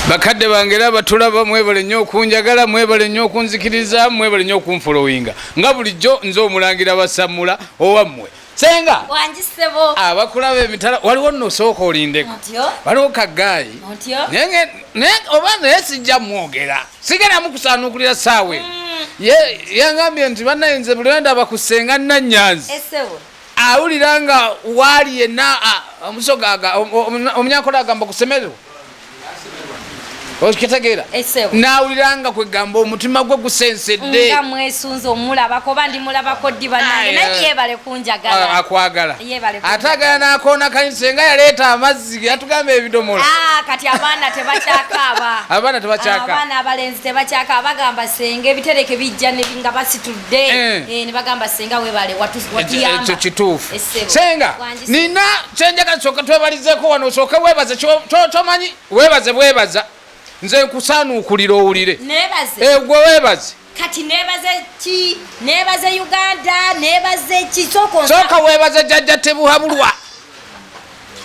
bakadde bange era batulaba mwebale nnyo okunjagala mwebale nnyo okunzikiriza mwebale nnyo okunfolowinga nga bulijjo nze omulangira basammula owammwe senga abakulaba emitala waliwo nosooka olindeko waliwo kagaayi naye oba naye sijja mwogera sigera mukusaanukulira saawe mm. yangambye nti banayinze bulenda bakusenga nanyanzi awulira nga waali yenna omusoga omunyankole agamba kusemererwa okitegeera nawulira nga kwegamba omutima gwe gusensedde nga mwesunze omulabako oba ndi mulabako ddi banange naye eh. yebale kunjagala ah, akwagala ate agala nakoona kayinse nga yaleeta amazzi yatugamba ebidomola ah, kati abaana tebakyakaaba abaana tebakyakaabaana abalenzi tebakyakaaba bagamba senga ebitereke bijja nga basitudde de eh. eh, ne bagamba senga webale watu watu yamba ekyo kituufu senga nina senga kasoka twebalizeko wano soka webaze cho cho manyi webaze webaza nze nkusanu ukulira owulire nebaze eh gwe webaze kati nebaze ki nebaze uganda nebaze ki soko soka webaze jajja tebuhabulwa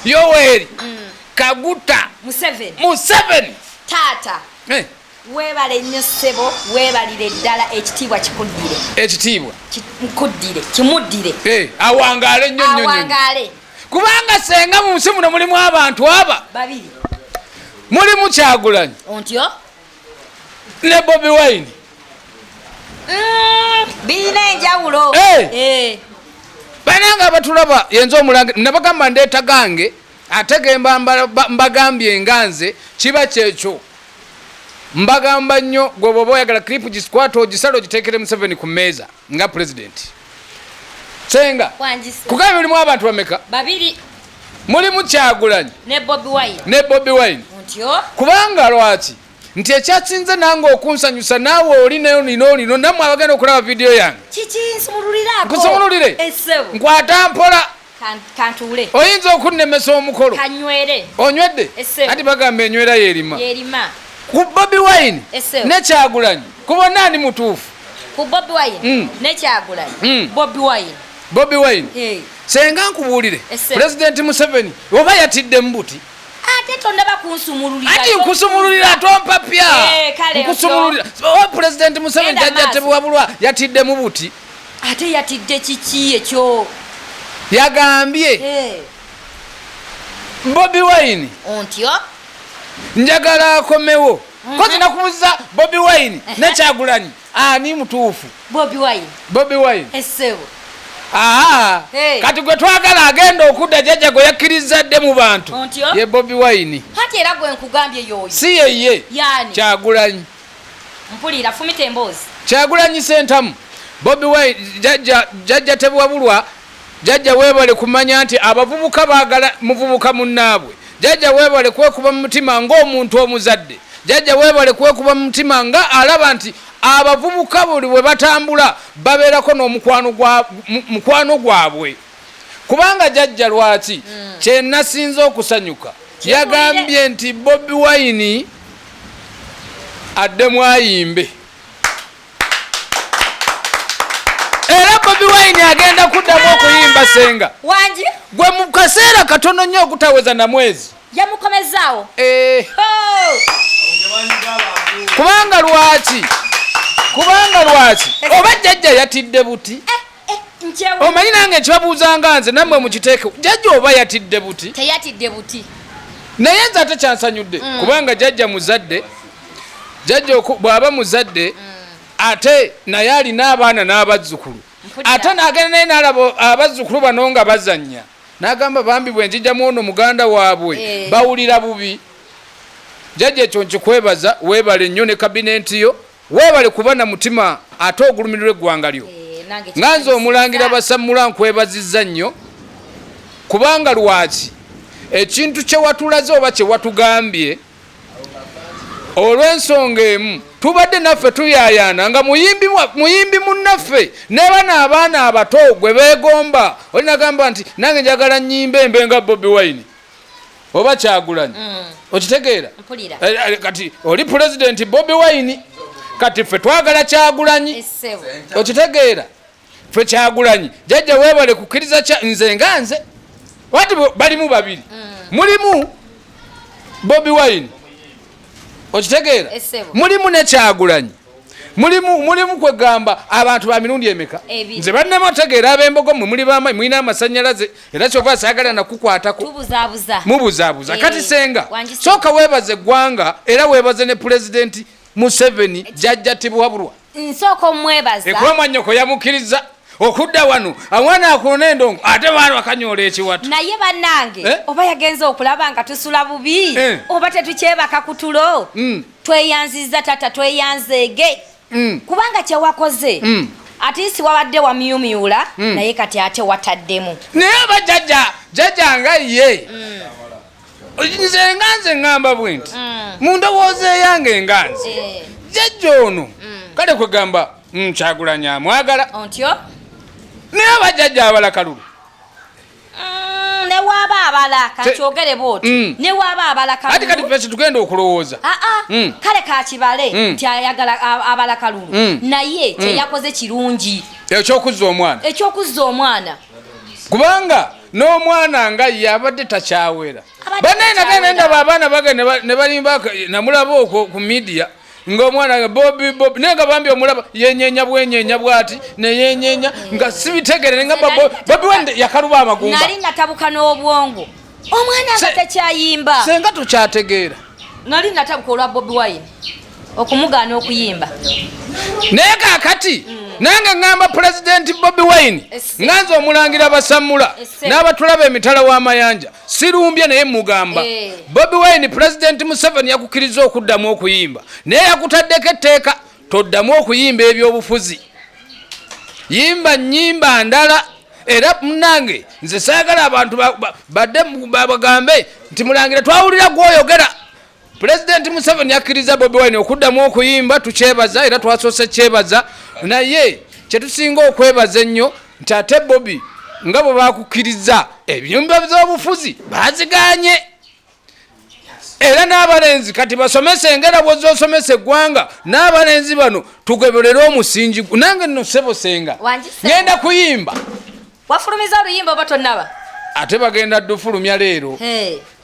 yoweri mm. kaguta museveni museveni tata eh Webale nnyo ssebo, webalire ddala ekitiibwa kikuddire. Ekitiibwa nkuddire, kimuddire. Eh, awangaale nnyo nnyo. Awangaale. Kubanga senga mu nsi muno mulimu abantu aba babiri, mulimu Kyagulanyi ontyo ne Bobi Wine. Mm, birina enjawulo. Eh. Eh. Bananga abatulaba yenza omulange nabagamba ndeeta gange ate gemba mbagambye nga nze kiba kyekyo mbagamba nnyo gwe bwoba oyagala clip gisikwata ogisala ogitekere museveni ku meeza nga president senga kugambye mulimu abantu bameka babiri mulimu kyagulanyi ne bobi wine ne bobi wine kubanga lwaki nti ekyasinze nange okunsanyusa naawe oli nayo nina olino namwe abagenda okulaba vidiyo yange kusumululire nkwata mpola kantuule oyinza okunnemesa omukolo kanywere onywedde anti bagamba enywera yerima yerima ku bobi wine nekyagulanyi ku bonna ani mutuufu ku bobi wine mm. nekyagulanyi mm. bobi wine bobi wine hey. senga nkubuulire pulezidenti museveni oba yatidde mubuti ate tondaba kunsumululira ati nkusumululira tompapya eh, nkusumululira oba pulezidenti museveni jajjatebwabulwa yatidde mubuti ate yatidde kiki ekyo yagambye bobi wine ontyo njagala akomewo mhm. kozi nakubuza bobi wine nekyagulanyi ani mutuufu bobi wine esebo aa kati gwe twagala agenda okudda jajja gwe yakkiriza dde mu bantu ye bobi wine si yeye kyagulanyi Mpulira fumita emboozi. Kyagulanyi Sentamu, Bobi Wine, Jajja, Jajja Tebwabulwa, Jajja webale kumanya nti abavubuka bagala muvubuka munnaabwe. Jajja webale kwekuba mu mutima ng'omuntu omuzadde. Jajja webale kwekuba mu mutima nga alaba nti abavubuka buli bwe batambula babeerako n'omukwano gwa, mukwano gwabwe. kubanga jajja lwaki mm. kyenasinze okusanyuka yagambye nti bobi wine addemu ayimbe era bobi wine agenda kuddamu okuyimba senga gwe mu kaseera katono nnyo okutaweza na mwezi yamukomezaawo eh. oh! kubanga lwaki kubanga lwaki oba jajja yatidde buti eh. eh, omanyi nange kyabuuzanga nze namwe mukiteeke jajja oba yatidde buti teyatidde buti naye nze ate kyansanyudde mm. kubanga jajja muzadde jajja bwaba muzadde mm. ate naye alina abaana n'abazzukulu ate nagenda naye nalaba abazzukulu bano nga bazanya nagamba bambi bwe njijamu ono muganda waabwe eh. bawulira bubi jajja ekyo nkikwebaza webale nnyo ne kabinenti yo Webale kuba na mutima ate ogulumirirwa eggwanga lyo. Eh, nga nze omulangira basammula nkwebaziza nnyo kubanga lwaki ekintu kyewatulaze oba kyewatugambye olw'ensonga emu tubadde naffe tuyayaana nga muyimbi munnaffe nebana abaana abato gwe begomba olinagamba nti nange njagala nyimba embe nga bobi wine oba kyagulanyi mm. okitegeera eh, eh, kati oli pulezidenti bobi wine kati ffe twagala kyagulanyi okitegeera ffe kyagulanyi jajja webale kukkiriza nze nga nze wati balimu babiri mm. mulimu bobi wine okitegeera mulimu nekyagulanyi mulimu mulimu kwegamba abantu ba mirundi emeka nze bannema otegeera abembogo mwe muli bama mulina amasanyalaze era kyova asagala nakukwatako mubuzabuza kati senga soka webaze eggwanga era webaze ne pulezidenti museveni eh, jajja tibuwabulwa nsooka omwebaza ekuba mwanyoko yamukkiriza okudda wano awana akulona endongo ate baana bakanyola ekiwatu naye banange eh? oba yagenza okulaba nga tusula bubi eh? oba tetukyebaka kutulo mm. tweyanziza tata tweyanzeege mm. kubanga kyewakoze mm. atisi wabadde wamyumyula mm. naye kati ate wataddemu naye aba jaja jaja nga ye mm. nze nga nze ngamba bwe nti mm. mu ndowooza eyange nga nze eh. jaja ono mm. kale kwegamba nkyagulanya mm, amwagala ontyo naye aba jaja abala kalulu newaba abala kakyogere bwoti mm. newaba abala kati kati fesi tugenda okulowooza ah, ah. mm. kale kakibale mm. nti ayagala abala kalulu naye kyeyakoze kirungi ekyokuzza omwana ekyokuzza omwana kubanga n'omwana nga ye abadde takyawera banaye nagenda ndaba abaana bagenda ne balimba namulaba okwo ku midiya ng'omwana nga bobi bobi naye nga bambi omulaba yenyenya bwenyenya bwati neyenyenya nga sibitegere nga bobi wende yakaluba amagumba nali natabuka n'obwongo omwana nga tekyayimba senga tukyategeera nali natabuka olwa bobi wine okumugaana okuyimba naye kakati mm. nange ŋŋamba pulezidenti bobi wine nga nze omulangira basammula n'abatulaba emitala w'amayanja sirumbye naye mugamba eh. bobi wine pulezidenti museveni yakukkiriza okuddamu okuyimba naye yakutaddeko etteeka toddamu okuyimba ebyobufuzi yimba nyimba ndala era munange nze saagala abantu badde bagambe nti mulangira twawulira gwoyogera Pulezidenti Museveni akkiriza Bobi Wine okuddamu okuyimba tukyebaza era twasoose kyebaza naye kyetusinga okwebaza ennyo nti ate Bobi nga bwe bakukkiriza ebyumba by'obufuzi baziganye era n'abalenzi kati basomese engera bwozza osomesa eggwanga n'abalenzi bano tugeberere omusingi nange nno sebosenga ngenda kuyimba wafulumiza oluyimba oba tonaba ate bagenda dufulumya leero